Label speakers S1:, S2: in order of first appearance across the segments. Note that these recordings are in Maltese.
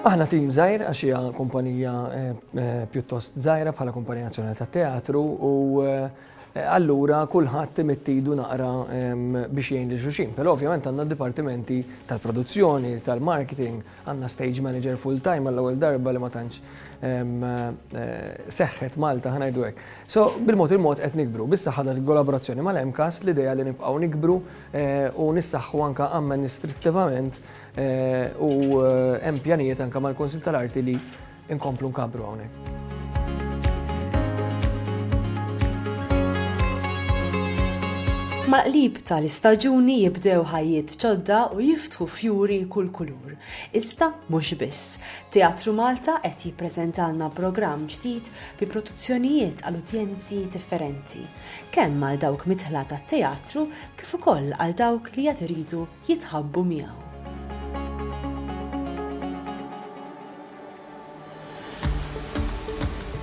S1: Aħna tim żgħir għax hija kumpanija eh, eh, pjuttost żgħira bħala kumpanija nazzjonali ta' teatru u eh, allura kulħadd imittidu naqra ehm, biex jgħin li xuxin. Però ovvjament għandna dipartimenti tal-produzzjoni, tal-marketing, Għandna stage manager full time għall-ewwel darba li ma tantx seħħet Malta ħa ngħidu hekk. So bil-mod il-mod qed nikbru. Bissa ħadar il-kollaborazzjoni mal-MCAS l-idea li nibqgħu nikbru u nissaħħu anke amministrittivament u hemm pjanijiet anke mal-Kunsill tal-Arti li Inkomplu nkabbru hawnhekk.
S2: Mal-qlib tal-istaġuni jibdew ħajjiet ġodda u jiftħu fjuri kull kulur. Iżda mhux biss. Teatru Malta qed jippreżentalna programm ġdid bi produzzjonijiet għal udjenzi differenti, kemm għal dawk mitħla tat-teatru kif ukoll għal dawk li qed iridu jitħabbu miegħu.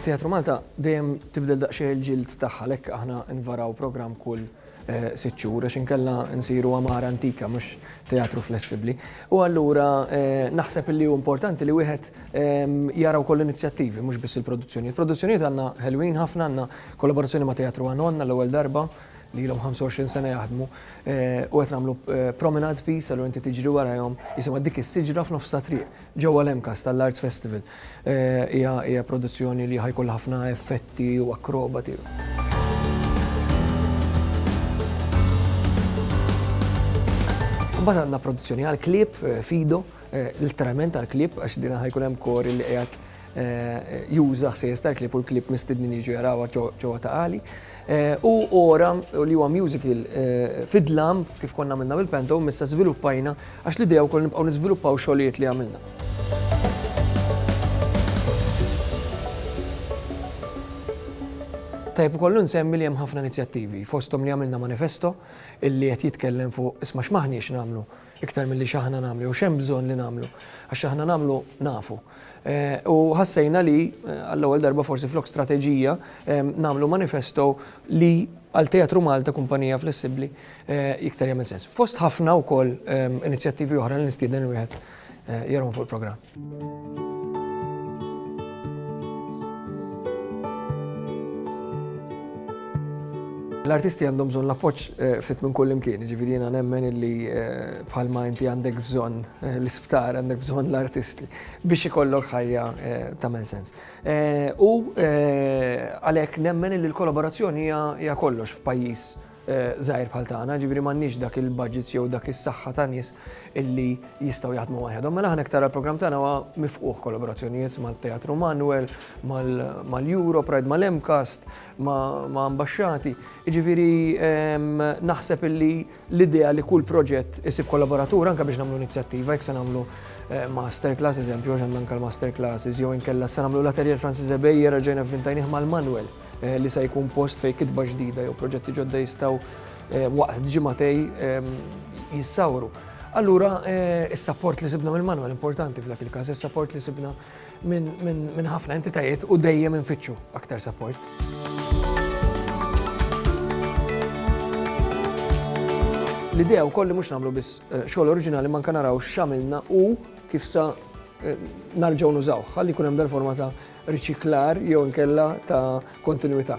S1: Teatru Malta dejjem tibdel daqsxejn il-ġild tagħha għalhekk aħna nvaraw programm kull eh, sitt xhur għax inkella nsiru għamara antika mhux teatru flessibbli. U allura eh, naħseb li hu importanti li wieħed ehm, jara wkoll inizjattivi mhux biss il-produzzjoni. Il-produzzjonijiet għandna ħelwin ħafna għandna kollaborazzjoni ma' Teatru Għanonna l-ewwel darba li ilhom 25 sena jaħdmu u qed nagħmlu promenade piece għallu inti tiġri warahom jisimha dik is-siġra f'nofs ta' triq ġewwa l-MCAS tal-Arts Festival. Hija produzzjoni li ħajkollha ħafna effetti u akrobati. Imbagħad għandna produzzjoni għall-klieb Fido, literalment għall-klieb għax din ħajkun hemm kor li qiegħed juża ħsejjes tal-klieb u l-klieb mistednin jiġu jarawha ġewwa ta' Qali. U ora li huwa musical fid-dlam kif konna għamilna bil-Pento, missa żviluppajna għax l-idea wkoll nibqgħu niżviluppaw xogħlijiet li għamilna. Tajjeb ukoll insemmi li hemm ħafna inizjattivi, fosthom li għamilna manifesto li qed jitkellem fuq isma' x'm'aħniex nagħmlu. iktar milli x'aħna nagħmlu jew x'hemm bżonn li nagħmlu, għax x'aħna nagħmlu nafu. Eh, u ħassejna li eh, għall-ewwel darba forsi flok strateġija eh, nagħmlu manifesto li għal Teatru Malta kumpanija flessibbli iktar jagħmel sens. Fost ħafna wkoll inizjattivi oħra li nistieden wieħed Jerhom fuq il-programm. L-artisti għandhom bżonn l-appoġġ eh, ftit minn kull imkien, ġifieri jiena nemmen illi eh, bħalma inti għandek bżonn eh, l-isptar, għandek bżonn l-artisti biex ikollok ħajja tagħmel sens. U għalhekk nemmen illi l-kollaborazzjoni hija kollox f'pajjiż żgħir bħal tagħna, jiġifieri m'għandniex dak il-budgets jew dak is-saħħa ta' nies illi jistgħu jaħdmu waħedhom. Mela aħna iktar għall-programm tagħna huwa mifqugħ kollaborazzjonijiet mat-Teatru Manwel, mal-Euro Pride, mal-MCAST, ma' ambaxxati. Jiġifieri naħseb illi l-idea li kull proġett isib kollaboratur anke biex nagħmlu inizjattiva, jekk se nagħmlu masterclass, eżempju, għax għandna anke l-masterclasses, jew inkella se nagħmlu l-Atelier Francis Ebejer reġgħina vvintajnieh mal-Manwel. li se jkun post fejn kitba ġdida jew proġetti ġodda jistgħu waqt ġimatej jissawru. Allura, is-sapport li sibna mill-manwal importanti f'dak il-każ, is-sapport li sibna minn ħafna entitajiet u dejjem infittxu aktar sapport. L-idea wkoll li mhux nagħmlu biss xogħol oriġinali ma anke naraw x'għamilna u kif sa narġgħu nużawh, ħalli jkun hemm dal-forma ta' riċiklar jew inkella ta' kontinwità.